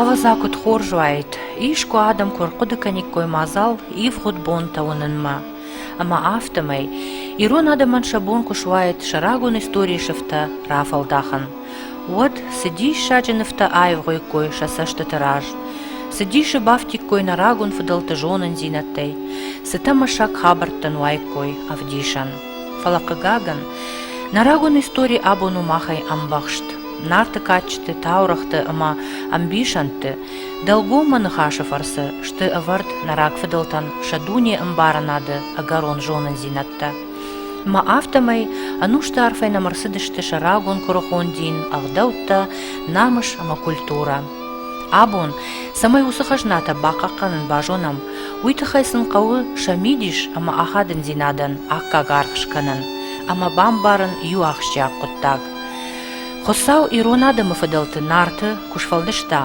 Ӕвӕдза куыд хорз уаид, искуы адӕм куы ӕрхъуыды кӕниккой мадзал ивгъуыд бонтӕ уынынмӕ. Ӕмӕ афтӕмӕй ирон адӕмӕн сӕ бон куы суаид сӕ рагон историйы сыфтӕ рафӕлдахын. Уӕд цы диссаджы нывтӕ аивгъуиккой сӕ цӕстыты раз, цы дисы бафтиккой нӕ рагон фыдӕлты зонындзинӕдтӕй, цы тӕмӕсӕг хабӕрттӕн уаиккой ӕвдисӕн. Фӕлӕ, хъыгагӕн, нӕ рагон истори абон у махӕй ӕмбӕхст. Нарты кадджыты, таурӕгъты ӕмӕ ӕмбисӕндты дӕлгоммӕ ныхасы фӕрцы сты ӕвӕрд нӕ рагфыдӕлтӕн сӕ дунеӕмбарынады ӕгӕрон зонындзинӕдтӕ. Ӕмӕ афтӕмӕй ӕнусты арфӕй нӕм ӕрцыдысты сӕ рагон куырыхон дин, ӕгъдӕуттӕ, намыс ӕмӕ культурӕ. Абон, цӕмӕй уыцы хӕзнатӕ бахъахъхъӕнын базонӕм, Уый тыххӕй сын хъӕуы сӕ мидис ӕмӕ ахадындзинадӕн аккаг аргъ скӕнын ӕмӕ бамбарын иу ахсджиаг хъуыддаг. Хуыцау ирон адӕмы фыдӕлты Нарты куы сфӕлдыста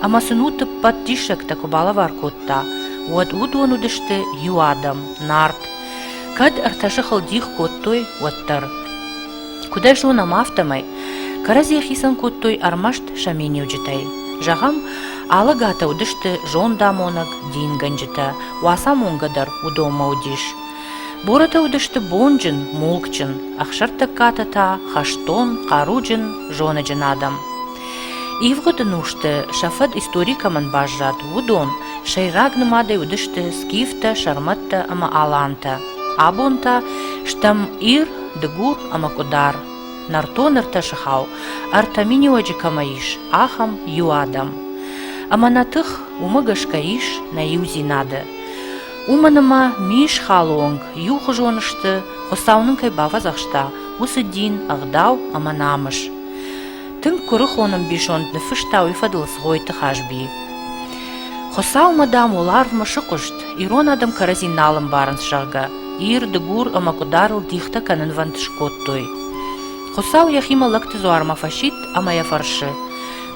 ӕмӕ сын уыд ӕппӕт диссӕгтӕ куы балӕвар кодта, уӕд уыдон уыдысты иу адӕм – Нарт, кӕд ӕртӕ сыхыл дих кодтой, уӕддӕр. Куыд ӕз зонӕм, афтӕмӕй кӕрӕдзи хицӕн кодтой ӕрмӕст сӕ миниуджытӕй. Зӕгъӕм, алӕгатӕ уыдысты зондамонӕг дингӕнджытӕ, Уацамонгӕ дӕр уыдонмӕ уыдис. Борӕтӕ уыдысты бонджын, мулкджын, Ӕхсӕртӕггатӕ та хӕстон, хъаруджын, зоныджын адӕм. Ивгъуыды нусты сӕ фӕд истори кӕмӕн баззад, уыдон сӕйраг нымадӕй уыдысты скифтӕ, сӕрмӕттӕ ӕмӕ алантӕ. Абон та стӕм Ир, Дыгур ӕмӕ Къуыдар. Нӕртон ӕртӕсыхау, ӕртӕ миниуӕджы кӕмӕ ис, ахӕм иу адӕм. Ӕмӕ нӕ тых уымӕ гӕсгӕ ис нӕ иудзинады. Уымӕн ӕмӕ мис халы онг иухуызон сты, Хуыцау нын кӕй бафӕдзӕхста, уыцы дин, ӕгъдау ӕмӕ намыс. Тынг куырыхон ӕмбисонд ныффыста уый фӕдыл Цгъойты Хазби. Хуыцаумӕ, дам, уӕларвмӕ сыхъуыст, ирон адӕм кӕрӕдзи нал ӕмбарынц, зӕгъгӕ, Ир, Дыгур ӕмӕ Къуыдарыл дихтӕ кӕнынвӕнд скодтой. Хуыцау йӕхимӕ лӕгты дзуармӕ фӕсидт ӕмӕ йӕ фӕрсы: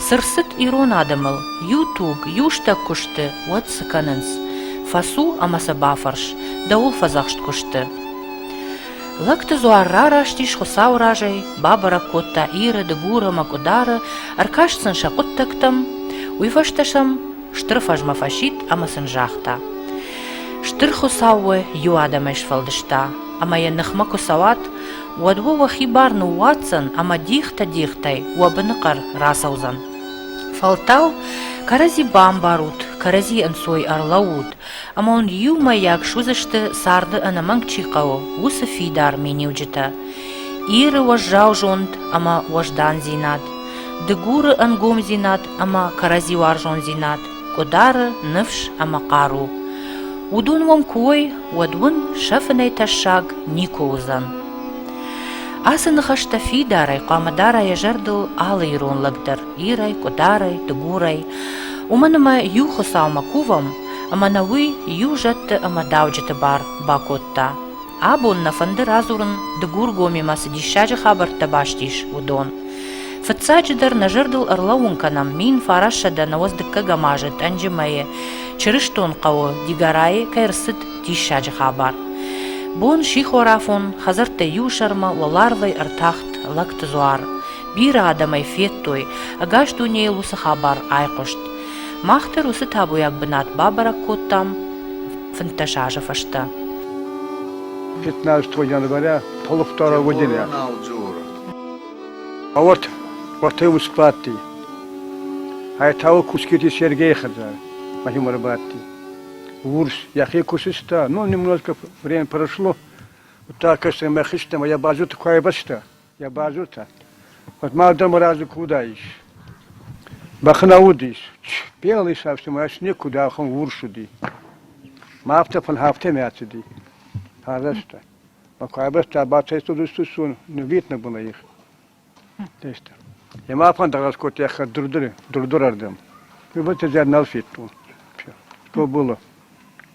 цы рцыд ирон адӕмыл? Иу туг, иу стӕг куы сты, уӕд цы кӕнынц? Фӕцу ӕмӕ сӕ бафӕрс, дӕуыл фӕдзӕхст куы сты. Лӕгты дзуар рараст ис Хуыцауы разӕй, бабӕрӕг кодта Иры, Дыгуры ӕмӕ Къуыдары, ӕркаст сын сӕ хъуыддӕгтӕм, уый фӕстӕ сӕм стыр фӕзмӕ фӕсидт ӕмӕ сын загъта: Стыр Хуыцау уӕ иу адӕмӕй сфӕлдыста, ӕмӕ йӕ ныхмӕ куы цӕуат, уӕд уӕ уӕхи бар ныууадздзӕн ӕмӕ дихтӕ-дихтӕй уӕ быныхъӕр рацӕудзӕн. Фӕлтау кӕрӕдзи бамбарут, кӕрӕдзи ӕнцой ӕрлӕуут, Амонд иумӕйаг суыдзысты, царды ӕнӕмӕнг чи хъӕуы, уыцы фидар миниуджытӕ: Иры уӕззау зонд ӕмӕ уӕздандзинад, Дыгуры ӕнгомдзинад ӕмӕ кӕрӕдзиуарзондзинад, Къуыдары ныфс ӕмӕ хъару. Уыдон уӕм куы уой, уӕд уын сӕ фынӕй тӕссаг никуы уыдзӕн. Ацы ныхӕстӕ фидарӕй, хъуамӕ дара йӕ зӕрдыл алы ирон лӕг дӕр. лирӕй, къуыдарӕй, дыгурӕй, уымӕн ӕмӕ иу Хуыцаумӕ кувӕм, ӕмӕ нӕ уый иу зӕдты ӕмӕ дауджыты бар бакодта. Абон нӕ фӕнды радзурын, Дыгургомимӕ цы диссаджы хабӕрттӕ баст ис, уыдон. Фыццаджыдӕр, нӕ зӕрдыл ӕрлӕууын кӕнӕм, мин фарассӕдӕ нӕуӕдз дыккӕгӕм азы Тъӕнджымӕйы, Чырыстон хъӕуы, Дигорайы, кӕй рцыд диссаджы хабар. Бон сихорафон, хӕдзӕрттӕ иу сӕрмӕ, уӕларвӕй ӕртахт лӕгты дзуар. Бирӕ адӕм ӕй федтой, ӕгас дунейыл уыцы хабар айхъуыст. Мах дӕр уыцы табуйаг бынат бабӕрӕг кодтам фынддӕс азы фӕстӕ. 15 января полу второго дня. А вот, вот и усплатный. А это вы куските Сергея хазара, Владимира Батти. Урс, яхи кусыста, ну, немножко время прошло, вот так, что мы хищным, а я бачу такое бачта. Йӕ базыртӕ. Куыд ма адӕмы разы куы уыдаис. Бӕхы нӕ уыдис. Пел ис ӕфсымӕр, никуыд ахуын урс уыди. Ма афтӕ фын афтӕмӕй ацыди. Арӕзта. Ба куайбӕстӕ бацӕйцуд устусон нывит ныббыны их. Тестӕ. Йемӕ фӕндагас кодта йӕ хӕддурдуры, дурдурӕрдӕм. Йыбыты зӕд нал федтон. Тоболы.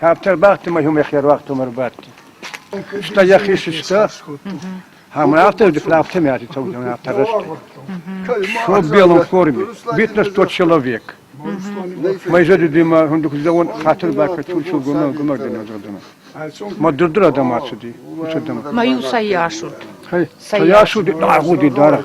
Автор бӕхты мӕ иумӕ херуагътом ӕрбадти. Стӕй йӕхи сыста, ӕмӕ автор графтемяти таудон автор растӕй. Что в белом форме. Битнес тот человек. Майжади дыма хундухзавон хатыр бака тулчу гуна гумардена додана. Ма дурдур адам ацуди. Ус адам. Маю саяшут. Саяшуди дагуди дара.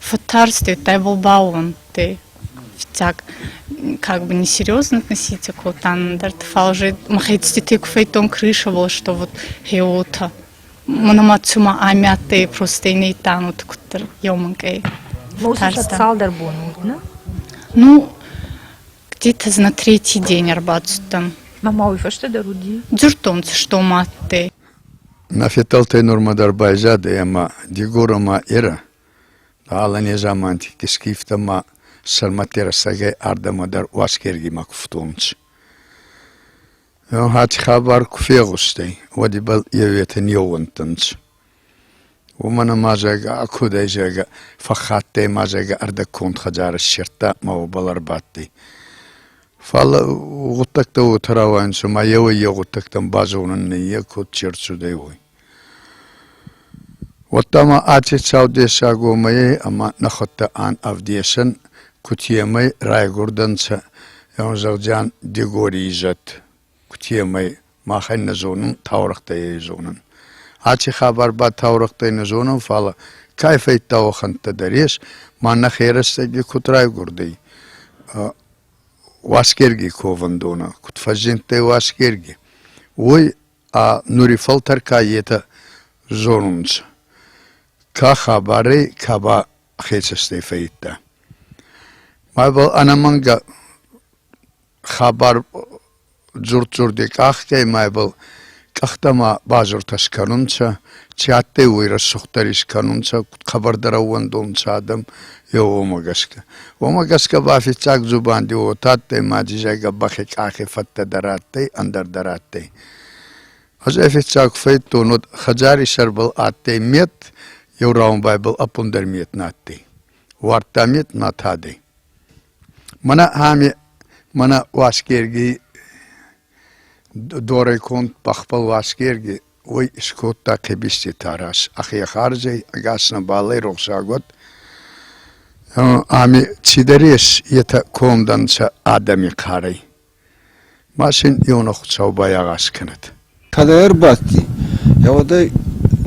Фӕтарст йедтӕ Болбауонти. Фиццаг как бы несерьезно относиться к вот ӕндӕр фал же мӕхецдетӕй куы федтон крышавыл, что вот хеотӕ. Мономацума амӕттӕй просто инейтанут куттер йомынкъӕй. Фӕтарста. цалдӕр бон уыд, не? Ну, где-то на третий день ӕрбацыдтӕн. Мама уый фӕстӕдӕр уыди? Дзырдтон, что маттӕй. Нӕ федтӕлтӕй нормӕ дӕр байзадӕй ӕма Дигорамӕ ерӕ ала незамантикти скифтӕмӕ сӕрмӕтти рӕстӕгӕй ардӕмӕ дӕр Уасгергимӕ кувтонцӕ. Ӕхати хабар ку фегъустӕй, уӕд ибӕл еуетӕ не ууӕндтӕнцӕ. Уомӕн ӕма, зӕгъгӕ, ӕ кудӕй, зӕгъгӕ, фӕххаттӕй ма, зӕгъгӕ, ӕрдӕгконд хӕдзар иссердта ма уобӕл ӕрбадтӕй. Фал гъуддӕгтӕ уотӕ рауайӕнцӕ, ма еуӕй-еу гъуддӕгтӕн базонун ниййе куд чи рцудӕй, уой. Уӕдта ма аци цау дессагомӕй ӕма нӕхуӕдтӕ ан ӕвдесӕн, кутемӕй райгурдӕнцӕ, еун зӕгъдзиан, Дигори изӕд. Кутемӕй махӕн нӕ зонун, таурӕхътӕ ей зонун. Аци хабар ба таурӕхътӕй нӕ зонун, фал ка фӕййидта уӕхӕнттӕ дӕр ес. Мӕнӕ херӕстӕги куд райгурдӕй Уасгерги ковӕндонӕ, куд фӕззиндтӕй Уасгерги, уой ӕ нури фӕлтӕр ка етӕ зонунцӕ, ка хабарӕй, ка ба хецӕстӕй фӕййидта. Мӕбӕл ӕнӕмӕнгӕ Хабар дзурд-дзурди къӕхтӕй мӕйбӕл къӕхтӕмӕ базуртӕ скӕнунцӕ, чи адтӕй, уой рӕсугъддӕр искӕнунцӕ куд хъӕбӕрдӕр ӕууӕндунцӕ адӕм, еу уомӕ гӕсгӕ. Уомӕ гӕсгӕ ба фиццаг дзубанди уотӕ адтӕй, ма дизайгӕ бӕхи къахи фӕдтӕ дӕр адтӕй, ӕндӕр дӕр адтӕй. Ӕз ӕй фиццаг куд фӕйдтон, уӕд хӕдзари сӕрбӕл адтӕй мет, еу раундбайбӕл ӕппундӕр мет нӕ адтӕй. Уардта мет ма тадӕй. Мӕнӕ ами мӕнӕ Уасгергий дорӕй конд бӕхбӕл Уасгерги уой искодта къибизти тарас, ӕхе харзӕй ӕгас нӕбал ӕй рохсаг уӕд. Ами цидӕр ес, етӕ конд ӕнцӕ адӕми карӕй. Машин иунӕгхуцау байагъаз кӕнӕд. Кӕдӕй ӕрбадти, йӕ уӕдӕй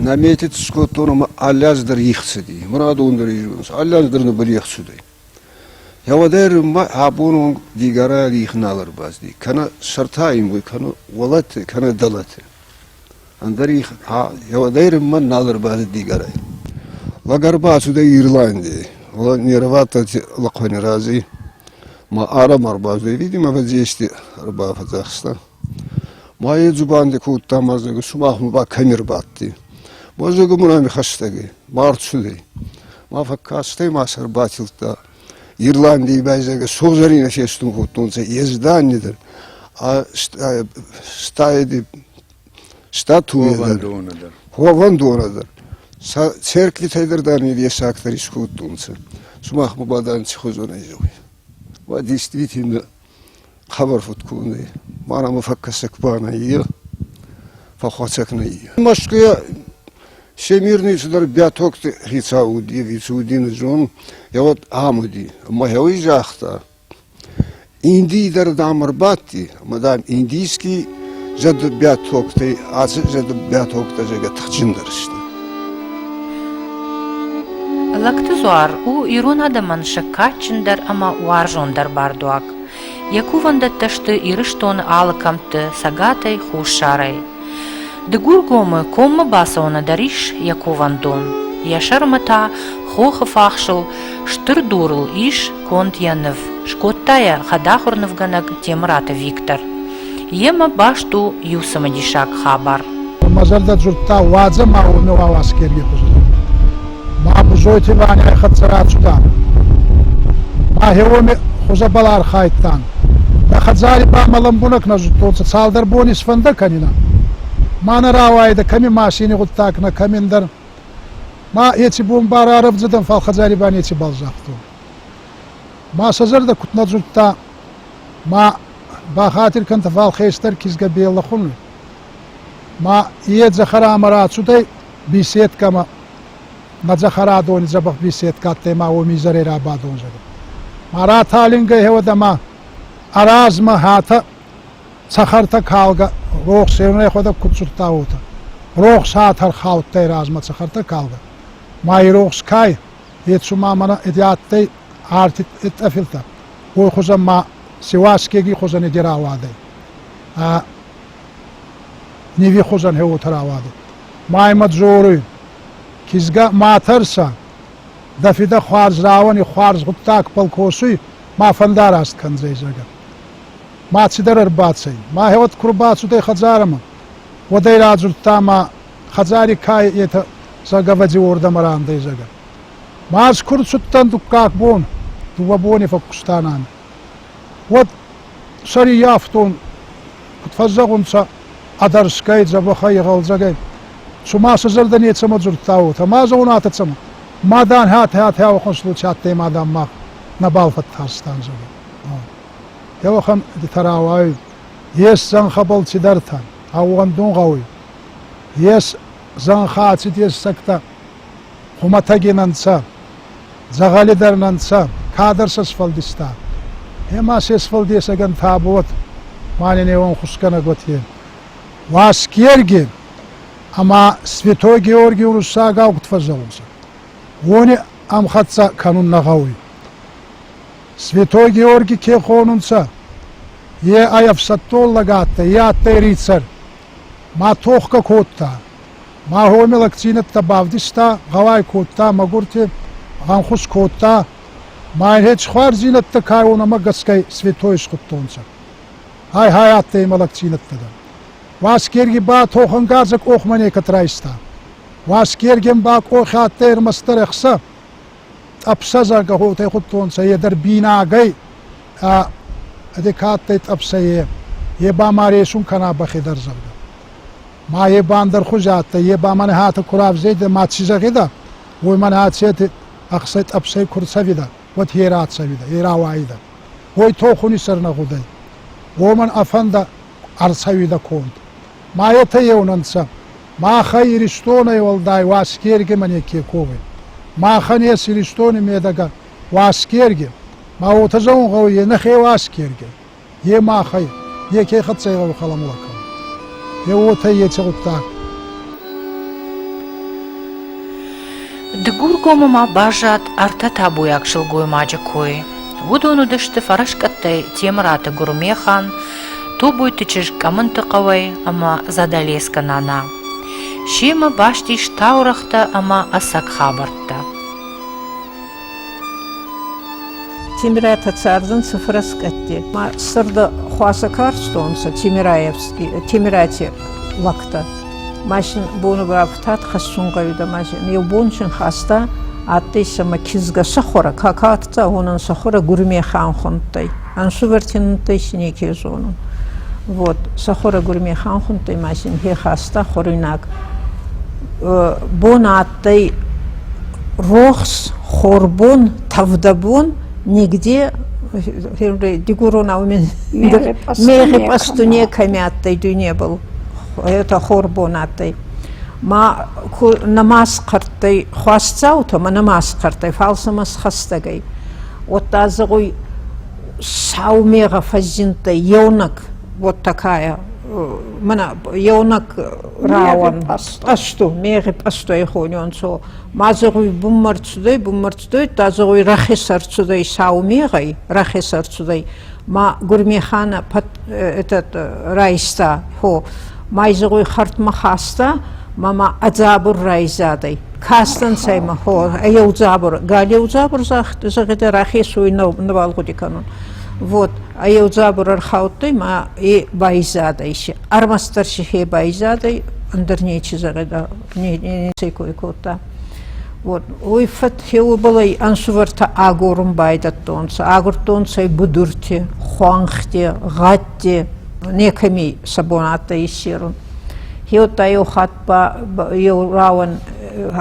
нӕ метец скодтон ӕмӕ алӕз дӕр ихцыди. Мурадон дӕр ирвӕнс, алӕз дӕр нӕбӕл ихцудӕй. Йӕ уӕдӕй руммӕ абон онг дигарӕ рих нал ӕрбазти. Кӕнӕ сӕртӕ ин уой, кӕнӕ уолӕты, кӕнӕ дӕлӕты. Ӕндӕр их Ерынмӕ нал ӕрбадыд Дигорӕй. Лӕг ӕрбацудӕй Ирландийӕй. Не рвадтӕй лӕхъуӕни рази. Ма арам ӕрбаздӕй, видимо, ӕвӕдзести ӕрбафӕдзахста. Ма е дзубанди кодта мӕздӕгу, сумах мӕ ба кӕми рбадти. Мӕздӕгу мурами хӕстӕгӕй, марцудӕй. Ма фӕккастӕй ма сӕ ӕрбатилдта. Ирландийи байзагӕ согзӕрийнӕ фестун кодтонцӕ, ездани дӕр, стайди Статуйӕ дӕр, ховӕндонӕ дӕр сӕ церквитӕй дӕр, дам, дессагдӕр искодтонцӕ. Сумах ба бадан ци хузонӕй зӕгъуй? Уа, действительно, хабар фуд кодӕй. Ма нӕмӕ фӕккӕсӕг ба нӕййа, фӕххуӕцӕг нӕййа. Мӕскуйӕ Всемирный цыдӕр Бӕтокты хицау уыди, вице-удин зон, йӕ уӕд ам уыди. Ӕмӕ йӕ уый загъта, Индийы дӕр, дам, ӕрбадти, ӕмӕ, дам, индийский зӕдбӕттӕгтӕй ацы зӕдбӕттӕгтӕ зӕгӕ тыхджындӕр сты. Лактызуар у ирон адӕмӕн сӕггатджындӕр ӕмӕ уарзондӕр бардуаг. Йӕ кувӕндӕттӕ сты Ирыстоны алы кӕмтты, цӕгатӕй, хуссарӕй. Дыгургомы коммӕ бацӕуӕны дӕр ис йӕ кувӕндон. Йӕ сӕрмӕ та хохы фахсыл стыр дурыл ис конд йӕ ныв, скодта йӕ хӕдахуыр нывгӕнӕг Темыраты Виктор. Йемӕ баст у иу цымыдисаг хабар. Мӕ зӕрдӕ дзырдта, уадзӕм ау нӕу Аласкерийы хуызы. Ма Бузойти Ваняй хӕццӕ рацудӕн. Мӕхе уоми хузӕбӕл архайдтан. Нӕ хӕдзари ба мӕ лӕмбунӕг нӕ зудтонцӕ цалдӕр бони сфӕндӕ кӕнинӕ. Ма нӕ рауайдӕ кӕми машини гъуддаг нӕ кӕминдӕр. Ма еци бон ба рарӕвдзӕдӕн, фал хӕдзари ба нецибал загътон. Ма сӕ зӕрдӕ куд нӕ дзурдта, ма бахатир кӕнтӕ, фал хестӕр кизгӕ беллӕ хуни. Ма е дзӕхӕрамӕ рацудӕй беседкӕмӕ Мӕ цӕхӕрадони дзӕбӕх беседка адтӕй ма уоми изӕрӕй рабадун зӕгъун. Ма раталингӕй гьеуӕдӕмӕ ӕ размӕ хӕтӕ цӕхӕртӕ калгӕ рохс еунӕгӕйхуӕдӕг куд цудта, уотӕ. Рохс ӕ тӕрхаудтӕй размӕ цӕхӕртӕ калгӕ. Ма и рохс ка ӕй, е цума мӕнӕ еди адтӕй арти тъӕфилтӕ, уой хузӕн ма Севаскеги хузӕн еди рауадӕй. Ниви хузӕн хеуотӕ рауадӕй. Ма имӕ дзоруй: «Кизгӕ ма тӕрсӕ! Дӕ фидӕ хуарз рауӕни хуарз гъуддагбӕл косуй, ма фӕндараст кӕндзӕй, зӕгӕ. Ма цидӕр ӕрбацӕй. Мӕхеуӕд ку рбацудӕй хӕдзарӕмӕ, уӕд ӕй радзурдта ма хӕдзари ка етӕ Сагавӕдзи уордӕмӕ рандӕй, зӕгӕ. Ма ӕз ку рцудтӕн дуккаг бон, дууӕ бони фӕккустан ами. уӕд сӕриййафтон, куд фӕззӕгъунцӕ, ӕдӕрсгӕй, дзӕбӕхӕй, гъӕлдзӕгӕй. Цума сӕ зӕрдӕ нецӕмӕ дзурдта, уотӕ ма зӕгъунӕ цӕмӕ? Мадан ӕтӕ-ӕтӕ ӕвахонстуци адтӕй мадан ма нӕбал фӕттарстан, зӕгъӕ. Теуӕхӕн идтӕ рауайуй. Ес зӕнхӕбӕл цидӕртӕ, ӕууӕндун гъӕуй. Ес зӕнхӕ аци дессӕгтӕ. хумӕтӕгин ӕнцӕ, дзӕгъӕли дӕр нӕ'нцӕ, кадӕр сӕ сфӕлдиста. Ема се сфӕлдесӕгӕн табуат ма ненеуон хусгӕнӕг уотӕ. Уасгерги ӕма Святой Георги уруссагау куд фӕззелунцӕ, уони ӕмхӕццӕ кӕнун нӕ гъӕуй. Святой Георги ке хонунцӕ, е ӕй ӕфсӕддон лӕг адтӕй, е адтӕй рицар. Ма тохгӕ кодта, Маһоны лӕгдзинӕдтӕ бавдыста, гъӕуай кодта, мӕгуырты ӕххуыс кодта, ма йын хетсхуардзинӕдтӕ кӕронмӕ гӕсгӕ Светой схуыдтонцӕ. Ай-ай адтӕй имӕ лӕгдзинӕдтӕ дӕр. Уасгерги ба тохӕнгарзӕ къохмӕ некӕд райста. Уасгергӕн ба къохи адтӕй ӕрмӕстдӕр ӕхца. Тъӕпсӕзагӕ хотӕй худтонцӕ е дӕр бийнагӕй, ӕ ӕде ка адтӕй тъӕпсӕ, е, е ба ма ресун кӕна бӕхе дӕр, зӕгъгӕ. Ма е бандер хузӕ адтӕй, е ба мӕнӕ хатӕ ку равзедӕ ма ци зӕгъидӕ, уой мӕнӕ ацети ӕхсӕй-тъӕпсӕй ку рцӕвидӕ, уӕд е рацӕвидӕ, е рауайидӕ. Уой тохуни сӕр нӕ гъудӕй. Уомӕн ӕ фӕндӕ ӕрцӕуидӕ конд. Ма етӕ еунӕнцӕ. Махӕ Иристонӕй уӕлдай Уасгергимӕ неке ковӕй. Махӕн ес Иристони медӕгӕ Уасгерги, ма уотӕ зӕгъун гъӕуй, е нӕхе Уасгерги. Е махӕй, неке хӕццӕ гъӕуи халамор кӕнун. Е уотӕ еци гъуддаг. Дыгургомы ма баззад ӕртӕ табуйаг сылгоймаджы кой. Уыдон уыдысты фӕрӕскъӕттӕй Темыраты Гуырмехан, Тобойты чызг Къӕмынты хъӕуӕй ӕмӕ Задалескы нана. Семӕ баст ис таурӕгътӕ ӕмӕ ӕцӕг хабӕрттӕ. Темирӕтӕ цӕрдзӕнцӕ фӕрӕскъӕтти. Ма сӕрда хуасӕ карстонцӕ Темирати лӕгтӕ. Ма син бонугӕфтат хӕссун гъӕуидӕ, ма син еу бон син хаста, адтӕй сӕмӕ кизгӕ сӕхуӕрӕ, какаоктӕ гъонӕн сӕхуӕрӕ гурмехӕн хундтӕй. Ӕнсувӕрти нудтӕй си неке зонун. Вот, сӕхуӕрӕ гурмехӕн хундтӕй ма син хе хаста хуӕруйнаг. Бон адтӕй рохс, хорбон, тӕвдӕбон, нигде дигуронау мегъи пъасту некӕми адтӕй дуйнебӕл, етӕ хорбон адтӕй. Ма нӕма схъӕрттӕй хуасдзаутӕмӕ, нӕма схъӕрттӕй, фал сӕмӕ схӕстӕг ӕй. Уӕдта зӕгъуй, сау мегъӕ фӕззиндтӕй еунӕг, вот такая, мӕнӕ еунӕг рауӕн пъасту мегъи пъастуй хонёнцо ма зӕгъуй буммар цудӕй буммар цудӕй та зӕгъуй рахесар цудӕй сау мегъӕй рахесар цудӕй ма гурмехана этот райста хо май зӕгъуй хӕртмӕ хаста ма ма ӕ дзабур райзадӕй кастӕнцӕ ма хо еу дзабур гал еу дзабур зӕгъидӕ рахесуй нӕбал гъуди кӕнун вот а еу дзабур ӕрхаудтӕй ма и байзадӕй се Ӕрмӕстдӕр сихе байзадӕй, ӕндӕр нечи зӕгъеда, не, нецӕй кой кодта. Вот. Уой фӕдхе уобалӕй ӕнсувӕртӕ агорун байдӕдтонцӕ. Агурдтонцӕ будурти, хуӕнхти, гъӕдти, некӕми сӕ бунаттӕ иссерун. Хеуттӕ еу хатт ба еу рауӕн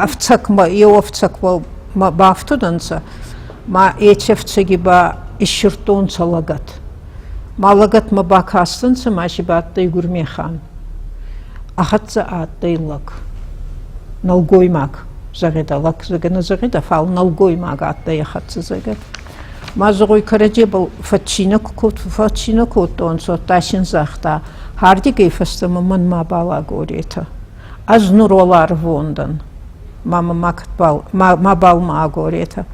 ӕфцӕгмӕ, еу ӕфцӕгмӕ бафтудӕнцӕ, ма еци ӕфцӕги ба иссирдтонцӕ лӕгӕт. Ма лӕгӕтмӕ бакастӕнцӕ ма си бадтӕй Гурмехан. Ӕ хӕццӕ адтӕй лӕг. Нӕлгоймаг, зӕгъидӕ лӕг, зӕгӕ нӕ зӕгъидӕ, фал нӕлгоймаг адтӕй ӕ хӕццӕ, зӕгӕ. Ма зӕгъуй, кӕрӕдзебӕл фӕццийнӕ, фӕццийнӕ кодтонцӕ, удта син загъта, Хардигӕй фӕстӕмӕ мӕнмӕ балӕгоретӕ. Ӕз нур уӕлӕ ӕрвондӕн, ма мӕ мабал ма агоретӕ.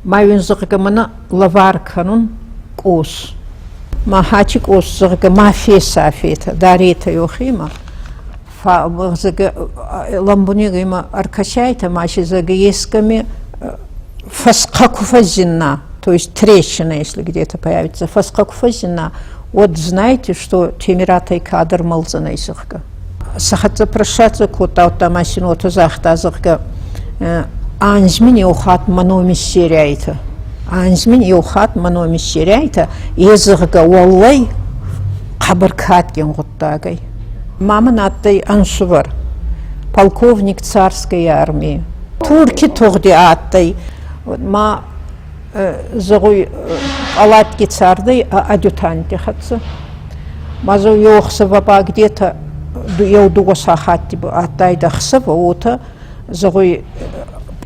Ма уин, зӕгъгӕ, мӕнӕ лӕвар кӕнун къос. Ма хачи къос, зӕгъгӕ, ма фесафетӕ, даретӕ йохемӕ. Ламбунег имӕ ӕркӕсайтӕ, ма си, зӕгъгӕ, ескӕми фӕсхъа ку фӕззинна, то есть трещина, если где-то появится, фӕсхъа ку фӕззинна, уӕд знаете, что темиратӕй кадр мӕлдзӕнӕй, зӕгъгӕ. Сӕ хӕццӕ прыссаццӕ кодтаудта ма синотӕ загъта, зӕгъгӕ, анзмин еу хатт мономи сериайтӕ. Анзмин еу хатт мономи сериайтӕ, е зӕгъгӕ, уӕллӕй хъӕбӕр кадгин гъуддагӕй. Ма мын адтӕй ӕнсувӕр, полковник царскай армии. Турки тугъди адтӕй, ма зыгъуй палатки цардӕй адютанти хӕццӕ. Ма зо йохсава ба где-то еу-дууӕ сахатти адтайдӕ хсава, уотӕ зыгъуй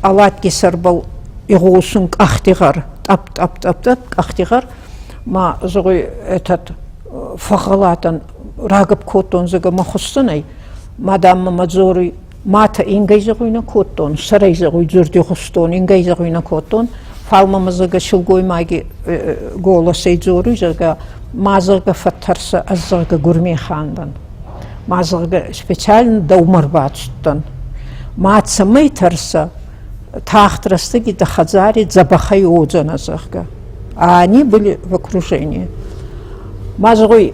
палатки сӕрбӕл игъосун къӕхтигъӕр, тъӕп-тъӕп-тъӕп-тъӕп къӕхтигъӕр, ма зыгъуй этот фӕгъалатан рагӕп кодтон, зӕгӕ ма хуссӕнӕй, мадам мӕ дзоруй Мӕтӕ ингӕйдзӕгъуй нӕ кодтон, сӕрӕйдзӕгъуй дзурдихустон ингӕйдзӕгъуй нӕ кодтон, фал мӕмӕ зӕгӕ силгоймаги голосӕй дзоруй, зӕгӕ, ма зӕгӕ фӕттӕрсӕ ӕз зӕгӕ гурмехан дӕн. Ма зӕгӕ специально дӕумӕ рбацудтӕн. Ма цӕмӕй тӕрсӕ, тахт рӕстӕги дӕ хӕдзари дзӕбӕхӕй уодзӕнӕ, зӕгъгӕ. А они были в окружении. Ма зӕгъуй,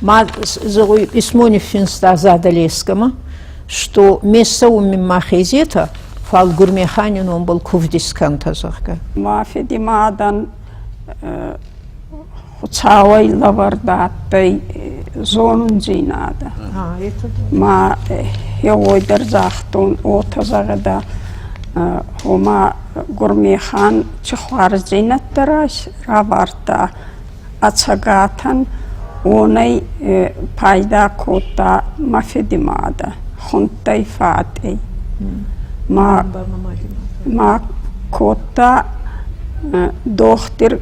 Ма зову письмоних финста Задалескама, что мессауммин махезета фал гурмехани номбыл кувдисканта зӕгъгӕ. Мафеди мадан хуцауӕй лӕвӕрд адтӕй зонундзийнадӕ. Ма еуой дӕр загътон, уотӕ зӕгъӕдӕ, ома гурмехан чихуарздзийнӕдтӕ равардта Ӕцӕгатӕн уонӕй пайда кодта мӕ федимадӕ, хундтӕй фатӕй. Ма, ма кодта дохтир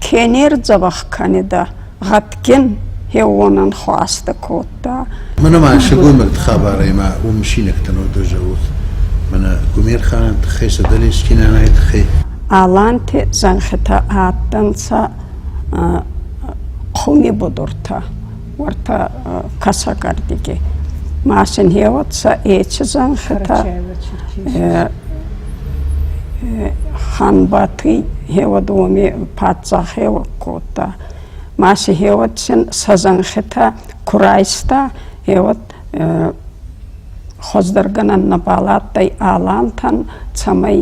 кенердзӕвӕх кӕнидӕ, гъӕдгин хеуонӕн хуастӕ кодта. Мӕнӕ ма сылгоймӕгты хабарамӕ уым мысинӕгтӕн уӕддӕр зӕгъут. Мӕнӕ Гумерханы тыххӕй, Садалескинанайы тыххӕй. Аланти зӕнхитӕ адтӕнцӕ хуми будуртӕ, уӕртӕ косогордиги. Ма сын хеуӕццӕ эчи зӕнхитӕ, Ханбатый хеуӕд уоми паддзах еуӕг кодта. ма си гьеуӕдсин сӕ зӕнхитӕ ку райста, гьеуӕд хуӕздӕргӕнӕн нӕбал адтӕй алантӕн, цӕмӕй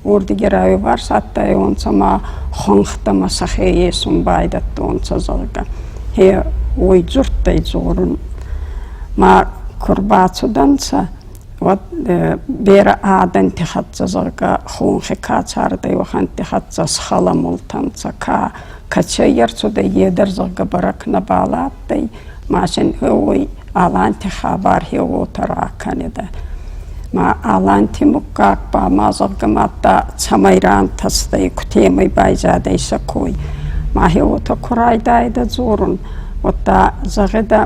уордиги райварс адтайонцӕ ма хуӕнхтӕмӕ сӕхе есун байдӕдтонцӕ, зӕгъгӕ. Е уой дзурдтӕй дзорун. Ма ку рбацудӕнцӕ, уӕд берӕ адӕнти хӕццӕ, зӕгъгӕ, хонхи ка цардӕй, уӕхӕнтти хӕццӕ схӕламултӕнцӕ, ка Кӕд сӕййерцудӕй е дӕр зӕгъгӕ бӕрӕг нӕбал адтӕй, ма син уой Аланти хабар хеуотӕ ракӕнидӕ. Ма Аланти муггаг ба ма зӕгъгӕ мадта цӕмӕй рантӕстӕй, кутемӕй байзадӕй сӕ кой. Ма хеуотӕ ку райдайидӕ дзорун, уӕдта зӕгъидӕ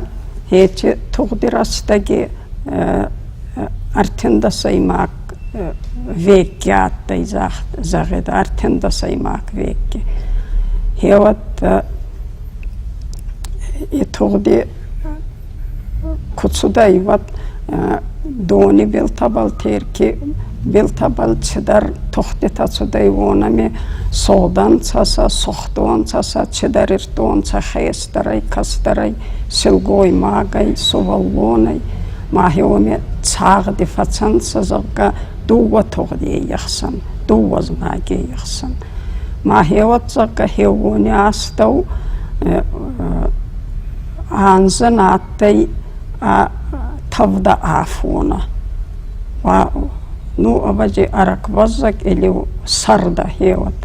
еци тугъди рӕстӕги ӕртиндӕсӕймаг Векки адтӕй, зӕгъӕд, ӕртӕндӕсӕймаг векки. Еуӕдта и тугъди ку цудӕй, уӕд дони билтӕбӕл, Терки билтӕбӕл цидӕр тугъдтитӕ цудӕй, уонӕми содӕнцӕ сӕ, сугъдонцӕ сӕ, цидӕр ирдтонцӕ хес. кӕстӕрӕй, кӕстӕрӕй, силгоймагӕй, сувӕллонӕй, махе уоми цагъди фӕцӕнцӕ, зӕгъгӕ, дууӕ тугъди ехсӕн, дууӕ знаги ехсӕн. Махе уӕд, зӕгъгӕ, хеуони астӕу анзӕ адтӕй ӕ тӕвдӕ афонӕ. Ну, ӕвӕдзи, ӕрӕгбӕззӕг или сӕрдӕ хеуӕд.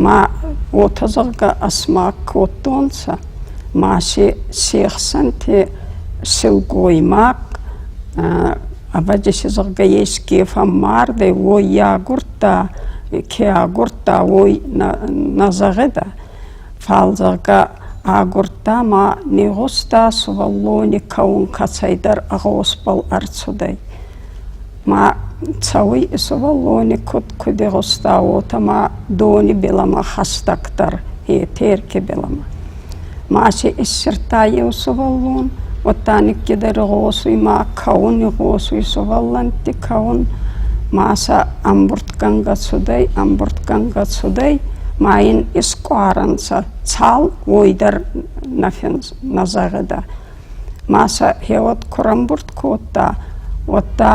Ма уотӕ зӕгъгӕ ӕсмаг кодтонцӕ, ма си се хсӕнти силгоймаг, ӕвӕдзи си зӕгъгӕ еске фӕммардӕй, уой агурдта, ке агурдта, уой нӕ зӕгъидӕ. Фал зӕгъгӕ агурдта ма не гъуста, сувӕллони кӕун кӕцӕйдӕр гъосбӕл ӕрцудӕй. Ма цӕуй сувӕллони куд, куд игъуста, уотӕ ма дони билӕмӕ хӕстӕгдӕр, е Терки билӕмӕ. Ма си иссирдта еу сувӕллон, уӕдта никкедӕр игъосуй ма кӕун, игъосуй сувӕллӕнтти кӕун. Ма сӕ ӕмбурдгӕнгӕ цудӕй, ӕмбурдгӕнгӕ цудӕй, ма ин искъуӕрӕнцӕ цал, уой дӕр нӕ фӕнз... нӕ зӕгъидӕ. Масӕ йеуӕд куы рамбурд кодта, уӕд та,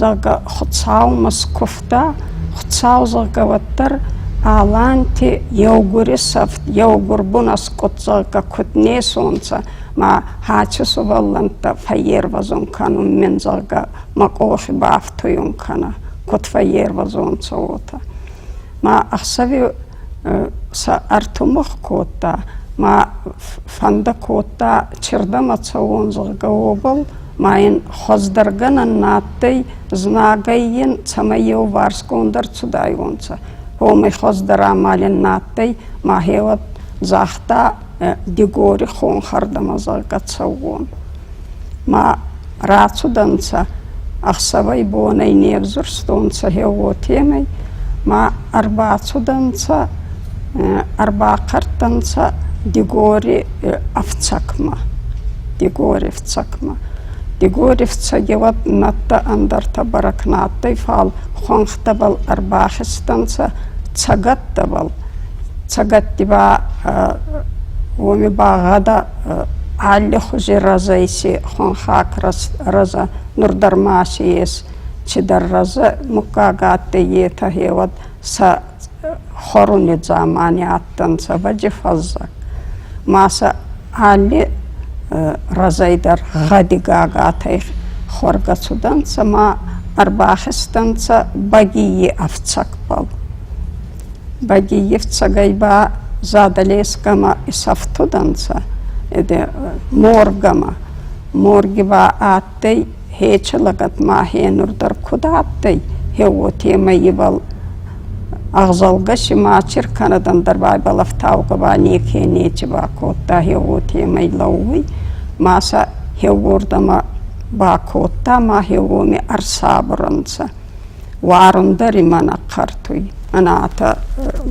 зӕгъгӕ, Хуыцаумӕ скуывта, Хуыцау, зӕгъгӕ, уӕддӕр Аланти еугури сӕфт, еугурбун аскъуд, зӕгъгӕ, куд не сонцӕ, ма хачи сувӕллӕнттӕ фӕййервӕзун кӕнун мин, зӕгъгӕ, мӕ къохи бафтуйун кӕнӕ, куд фӕййервӕзонцӕ, уотӕ. Ма ӕхсӕви сӕ ӕртымыгъ кодта ма фӕнды кодта чердӕм ацӕуон зӕгъгӕ уобӕл ма йин хуӕздӕргӕнӕн на адтӕй знагӕй йин цӕмӕй еуварсгонд ӕрцудайуонцӕ уомӕй хуӕздӕр амалӕн на адтӕй мӕхе уӕд загъта дигори хонхӕрдӕмӕ зӕгъгӕ цӕуон Ма рацудӕнцӕ, ӕхсӕвӕй-бонӕй не взурстонцӕ хе уотемӕй, ма ӕрбацудӕнцӕ, ӕрбахъӕрдтӕнцӕ Дигори ӕфцӕгмӕ. Дигори ӕфцӕгмӕ. Дигори ӕфцӕги уӕд нӕдтӕ ӕндӕртӕ бӕрӕг нӕ адтӕй, фал хуӕнхтӕбӕл ӕрбахизтӕнцӕ, цӕгаттӕбӕл. Цӕгатти ба уоми багъӕда алли хузи рӕзӕй ци хонхаг рӕза, нур дӕр ма си ес цидӕр рӕзӕ. Муггаг адтӕй етӕ хеуӕд сӕ хоруни дзамани адтӕнцӕ вӕджифӕззӕг. Ма сӕ алли рӕзӕй дӕр гъӕдигаг адтӕй. Хуӕргӕ цудӕнцӕ ма ӕрбахизтӕнцӕ Багийи ӕфцӕгбӕл. Бадиевцагай ба Задолескӕмӕ исӕфтудӕнцӕ ӕдӕ Моргӕмӕ. Морги ба адтӕй Хечи лӕгӕтмӕ ӕхенур дӕр куд адтӕй, е уотемӕй ибӕл ӕгъзӕлгӕ си ма чиркӕнӕдӕн дӕр байбал ӕфтаугӕ ба неке нечи бакодта, е уотемӕй лӕууй. Ма сӕ еуордӕмӕ бакодта, ма еуоми ӕрсабур ӕнцӕ. Уарун дӕр имӕ нӕ хъӕртуй. Ӕнӕтӕ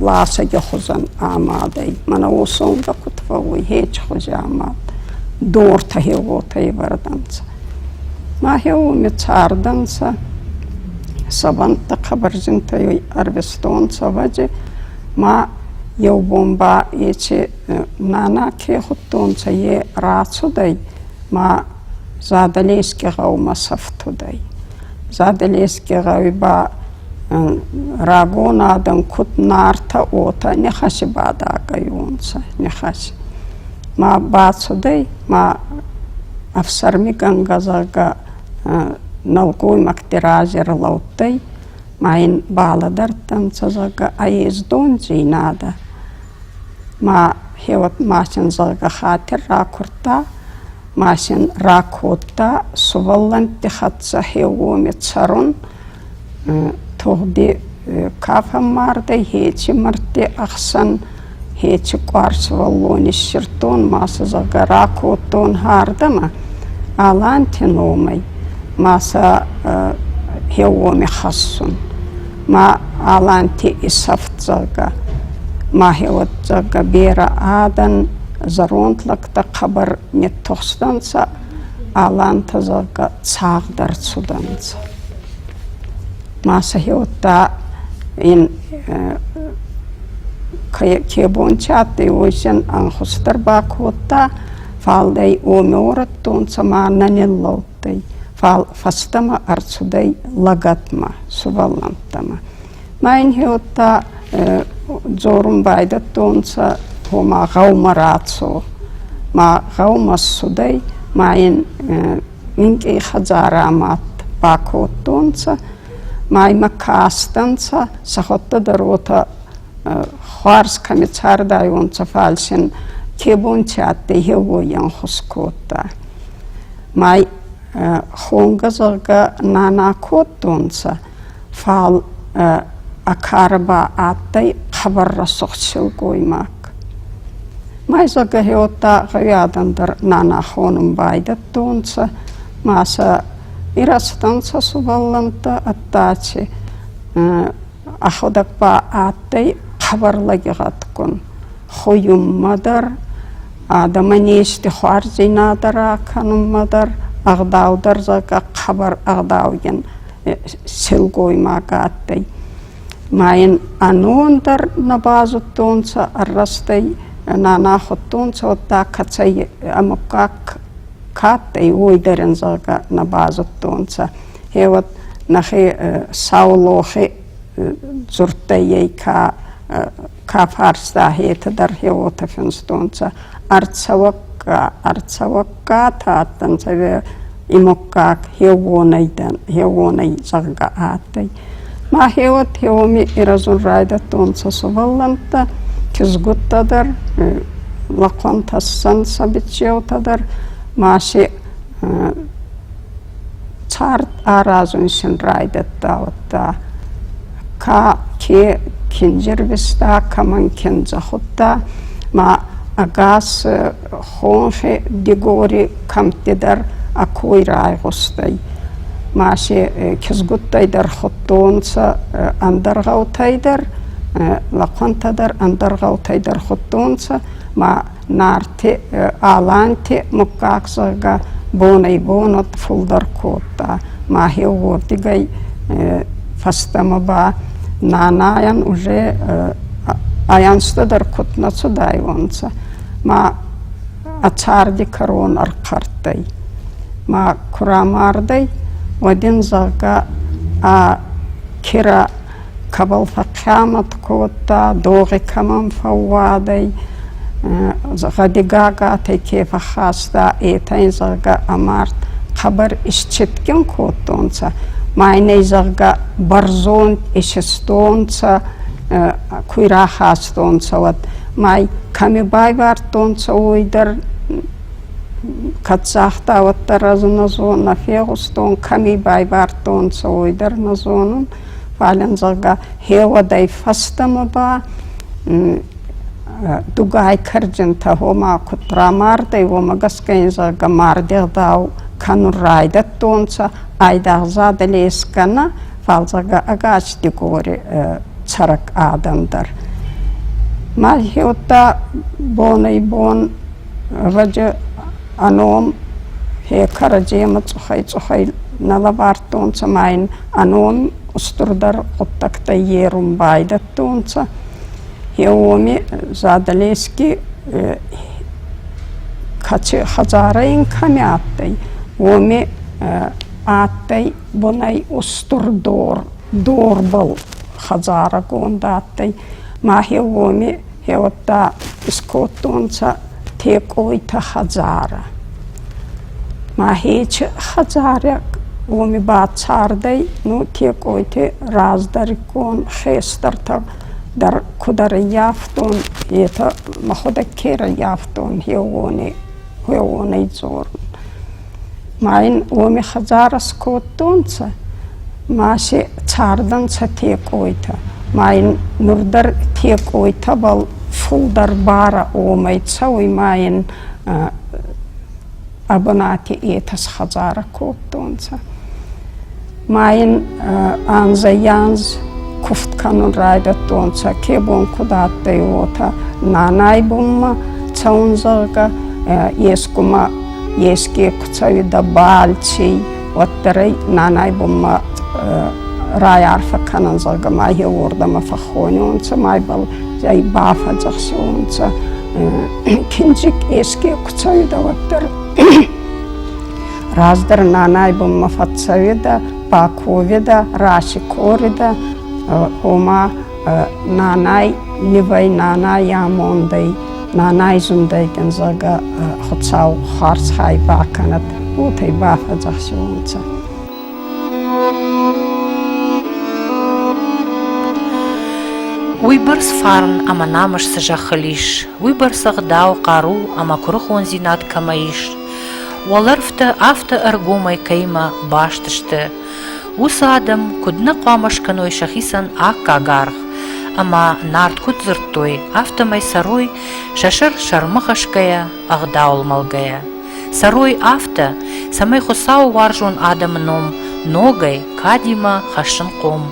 ласӕги хузӕн амад ӕй. Мӕнӕ уосонгӕ куд фӕууй хечхузи амад. Дортӕ хеуотӕ ивардӕнцӕ. Ма хеуоми цардӕнцӕ. Сӕвӕнттӕ хъӕбӕрзинтӕй ӕрвистон цӕвӕджи. Ма еу бон ба ечи нана ке худтонцӕ, е рацудӕй. Ма Забелески гъӕумӕ сӕфтудӕй. Забелески гъӕуи ба рагон адӕм куд Нартӕ, уотӕ нихӕси бадагӕйунцӕ, нихӕси. Ма бацудӕй, ма ӕфсӕрмигӕнгӕ, зӕгъгӕ, нӕлгоймӕгти рази ӕрлӕудтӕй, ма ин балӕдӕрдтӕнцӕ, зӕгъгӕ, ӕ ездон дзийнадӕ. Ма хеуӕт ма син, зӕгъгӕ, хатир ракурдта, Масин ракодта сувӕллӕнтти хӕццӕ хеуоми цӕрун, тугъди ка фӕммардӕй, хеци мӕрдти ӕхсӕн хеци къуар сувӕллон иссирдтон ма сӕ, зӕгъгӕ, ракодтон хӕрдӕмӕ Аланти номӕй ма сӕ хеуоми хӕссун. Ма Аланти исӕфт, зӕгъгӕ, ма хеуӕд, зӕгъгӕ, берӕ адӕн, зӕронд лӕг Дӕ хъӕбӕр ниттухстӕнцӕ, алантӕ, зӕгъгӕ, цагъд ӕрцудӕнцӕ. Ма сӕхе удта ин ке бонти адтӕй, уосӕн ӕнхус дӕр бакодта, фал дӕй уоми уорӕдтонцӕ ма нӕ ниллӕудтӕй, фал фӕстӕмӕ ӕрцудӕй лӕгӕтмӕ, сувӕллӕнттӕмӕ. Ма ин уотӕ дзорун байдӕдтонцӕ, ома гъӕумӕ рацо. Ма гъӕумӕ ссудӕй, ма ин минкъий хӕдзарӕмӕ бакодтонцӕ, ма имӕ кастӕнцӕ, сӕхуӕдтӕ дӕр уотӕ хуарз кӕми цардайуонцӕ, фал син ке бонти адтӕй, еуой ӕнхус кодта. Ма хонгӕ, зӕгъгӕ, нана кодтонцӕ, фал Акара ба адтӕй хабар рӕсугъд силгоймаг. Майзагӕ Хеотта гъеуӕдӕн дӕр нана хонун байдӕдтонцӕ, ма сӕ ирӕзтӕнцӕ сувӕллӕнттӕ ӕддати. Ӕхудӕг ба адтӕй хабар лӕгигъӕдгун. Хуйунмӕ дӕр, адӕмӕн ести хуарздзийнадӕ ракӕнунмӕ дӕр ӕгъдау дӕр зӕгъгӕ хабар ӕгъдаугин силгоймаг адтӕй. Ма йин ӕнон дӕр нӕ базудтонцӕ, ӕррастӕй нана худтонцӕ, уӕдта кӕцӕй ӕ муггаг ка адтӕй, уой дӕр ин зӕгъгӕ нӕ базудтонцӕ. Е уӕд нӕхе Саулохе дзурдтӕй ей ка Кафарста хетӕдӕр хеуотӕ финстонцӕ, ӕрцӕуӕгка, ӕрцӕуӕгка та адтӕнцӕ имуккаг хеуонӕй дӕн, хеуонӕй, зӕгъгӕ адтӕй. Ма хеуот хеуоми ирӕзун райдӕдтонцӕ сувӕллӕнттӕ, кизгуттӕ дӕр, лӕхъуӕн тӕссӕнцӕ бичъеутӕ дӕр, ма си цард аразун син райдӕдта уӕдта. Ка ке киндзирвиста, кӕмӕн киндзӕ худта, ма ӕгас хонхе Дигори кӕмттидӕр ӕ кой райгъустӕй. Ма се кизгуттӕй дӕр худтонцӕ ӕндӕр гъӕутӕй дӕр, лӕхъуӕнтӕ дӕр ӕндӕр гъӕутӕй дӕр худтонцӕ, ма Нарти Аланти муггаг зӕгъгӕ бонӕй-бон уод фулдӕр кодта. Мӕхе уордигӕй фӕстӕмӕ ба нанайӕн уже аянстӕ дӕр куд нӕ цудайуонцӕ. Ма ӕ царди кӕрон ӕрхъӕрттӕй. Ма ку рамардӕй, уӕд ин зӕгъгӕ ӕ кирӕ кӕбӕл фӕхъхъӕмӕт кодта, догъи кӕмӕн фӕууадӕй, гъӕдигагатӕй ке фӕххаста, етӕ ин зӕгъгӕ ӕмард хъӕбӕр исчитгин кодтонцӕ, ма ин ӕй зӕгъгӕ бӕрзонд исистонцӕ, куй рахастонцӕ, уӕд ма й кӕми байвардтонцӕ, уой дӕр кӕд загъта, уӕддӕр ӕз нӕ зонун, нӕ фегъустон, кӕми байвардтонцӕ, уой дӕр нӕ зонун. Фалӕн, зӕгъгӕ, хеуӕдӕй фӕстӕмӕ ба дугай карджинтӕ гьома куд рамардӕй, уомӕ гӕсгӕ ин, зӕгъгӕ, мардегъдау кӕнун райдӕдтонцӕ, айдагъзадӕ лес кӕнӕ, фал, зӕгъгӕ, ӕгас Дигори цӕрӕг адӕн дӕр. Ма хеудта бонӕй-бон раджы ӕ ном хе кӕрӕдземӕ цъухӕй-цъухӕй нӕ лӕвар радтонцӕ ма ин ӕнон устурдӕр гъуддӕгтӕ ерун байдӕдтонцӕ. Е уоми Задалески кӕци хӕдзарӕ ин кӕми адтӕй, уоми адтӕй бунӕй устур дор, дорбӕл хӕдзарӕгонд адтӕй. Мах е уоми Еуӕдта искодтонцӕ Текъойти хӕдзарӕ. Мӕхе чи хӕдзарӕ уоми ба цардӕй, ну Текъойти раздӕриккон хестӕртӕ дӕр куд ӕрӕййафтон, етӕ мӕ худӕг ке ӕрӕййафтон, еуони, уеуонӕй дзорун. Ма ин уоми хӕдзарӕ скодтонцӕ, ма си цардӕнцӕ текъойтӕ, ма ин нур дӕр текъойтӕбӕл фулдӕр барӕ уомӕй цӕуй, ма ин ӕ бунати етӕ схӕдзарӕ кодтонцӕ. ма ин анзӕй-анз кувд кӕнун райдӕдтонцӕ, ке бон куд адтӕй, уотӕ. Нанай бунмӕ цӕун, зӕгъгӕ, ескумӕ еске ку цӕуидӕ бӕлций, уӕддӕр ӕй нанай бунмӕ райарфӕ кӕнӕн, зӕгъгӕ, ма еуордӕмӕ фӕххонунцӕ, майбӕл ӕй бафӕдзӕхсиунцӕ. Киндзик еске ку цӕуидӕ, уӕддӕр Раздӕр нанай бунмӕ фӕццӕвидӕ, паковидӕ, расикоридӕ, ома нанай ивӕй, нанай амондӕй, нанай зундӕй дин зӕгъгӕ Хуцау харз хай бакӕнӕд, уотӕй бафӕдзӕхсиуонцӕ. Уойбӕрц фарн ӕма намыс цы зӕххыл ис, уойбӕрц ӕгъдау, хъару ӕма курухондзинад кӕмӕ ис, Уӕлӕрвтӕ афтӕ ӕргомӕй кӕимӕ баст сты, уыцы адӕм куыд нӕ хъуамӕ скӕной сӕхицӕн аккаг аргъ, ӕмӕ Нарт куыд дзырдтой, афтӕмӕй сӕрой, сӕ сӕр сӕрмӕ хӕсгӕйӕ, ӕгъдауыл мӕлгӕйӕ. Сӕрой афтӕ, цӕмӕй Хуыцауы уарзон адӕмы ном ногӕй кадимӕ хӕссын хъом,